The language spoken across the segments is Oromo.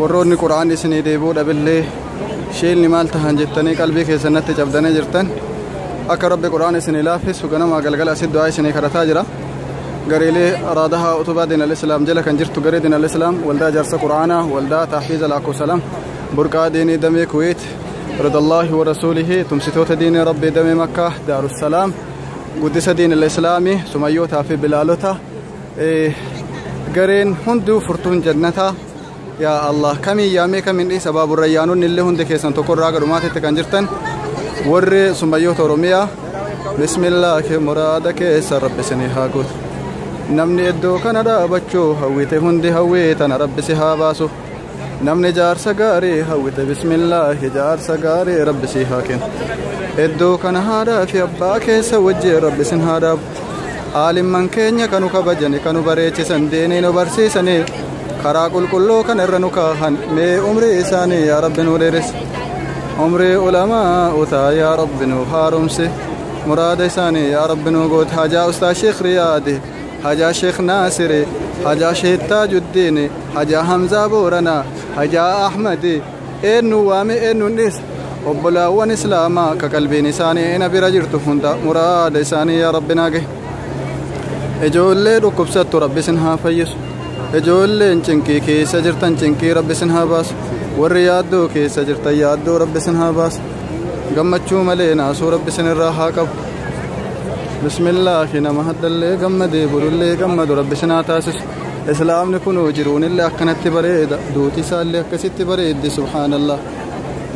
warroonni qura'aan isinii deebuu dhabillee sheelni maal tahan jettanii qalbii keessan natti cabdanii jirtan akka rabbi qura'aan isinii laaffisu ganamaa galgala asit du'aa isinii kadhataa jira gareelee raadaha utubaa diin al-islaam jala kan jirtu garee diin al-islaam waldaa jaarsa qura'aanaa waldaa taahfiiza laakkosalam burqaa diinii damee kuweet ridallaahi wa rasuulihi tumsitoota diinii rabbi damee makkaa daarussalaam guddisa diin al-islaamii sumayyootaa fi bilaalota gareen hunduu furtuun jannataa yaa allah kamiin yaamee kamiin dhiisa baaburra yaanonni illee hundi keessan tokkorraa gara dhumaatitti kan jirtan warri summayyoota oromiyaa bismillaahi muraada keessa rabbi isinii haa guutu namni iddoo kana dhaabachuu hawwite hundi hawwii tana rabbi si haa baasu namni jaarsa gaarii hawwite bismillaahi jaarsa gaarii rabbi sii haa kennu iddoo kana haadhaa fi abbaa keessa wajjin rabbi sin haa dhaabu aalimman keenya kanu kabajani kanu bareechisan deenii nu barsiisanii karaa qulqulluu kan irra nu kaahan mee umrii isaanii yaa rabbi nu dheeresse umrii ulamaa utaa yaa rabbi nu haaromse muraada isaanii yaa rabbi nu goote hajaa ustaa sheekh riyaadi hajaa sheekh naasiri hajaa sheekh taajuddiini Hajaa Hamzaa Booranaa, Hajaa Ahmadi, eennuun waame eennuun dhiisa. Obbolaawwan Islaamaa ka qalbiin isaanii na bira jirtu hunda muraada isaanii yaa Rabbi naa gahi. Ijoollee dhukkubsattu Rabbi isin haa fayyisu. Ijoolleen cinqii keessa jirtan cinqii Rabbi isin haa baasu. Warri yaaddoo keessa jirtan yaaddoo Rabbi isin haa baasu. Gammachuu malee naasuu Rabbi isin irraa haa qabu. Bismillaahi nama haddallee gammadee bulullee gammadu Rabbi isin haa taasisu. islaamni kun jiruunillee akkanatti bareeda duuti isaallee akkasitti bareeddi subhaanallah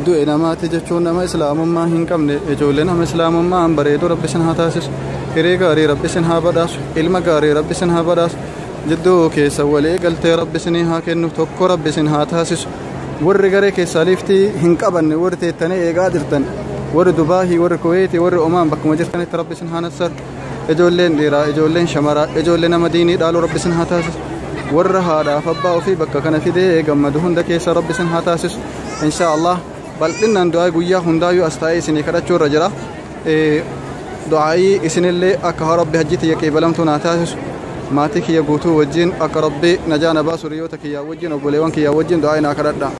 du'e namaati jechuun nama islaamummaa hin qabne ijoollee nama islaamummaa hin bareedu rabbi isin haa taasisu hiree gaarii rabbi isin haa badhaasu ilma gaarii rabbi isin haa badhaasu jidduu keessa walii galtee rabbi isinii haa kennu tokko rabbi isin haa taasisu warri garee keessaa liiftii hin qabanne warri teettanii eegaa jirtan warri dubaahii warri kuweetii warri omaan bakkuma jirtanitti rabbi isin haa nassaru ijoolleen dhiiraa ijoolleen shamaraa ijoollee nama diinii dhaaluu rabbi isin haa taasisu warra haadhaaf abbaa ofii bakka kana fidee gammadu hunda keessa rabbi isin haa taasisu inshaa allah bal'inaan du'aa guyyaa hundaayyuu as taa'ee isinii kadhachuu irra jira du'aa'ii isinillee akka rabbi hajjii tiyya qeebalamtuu naa taasisu maatii kiyya guutuu wajjin akka rabbi najaa na baasu riyoota kiyyaa wajjin obboleewwan kiyyaa wajjin du'aa'ii naa kadhadha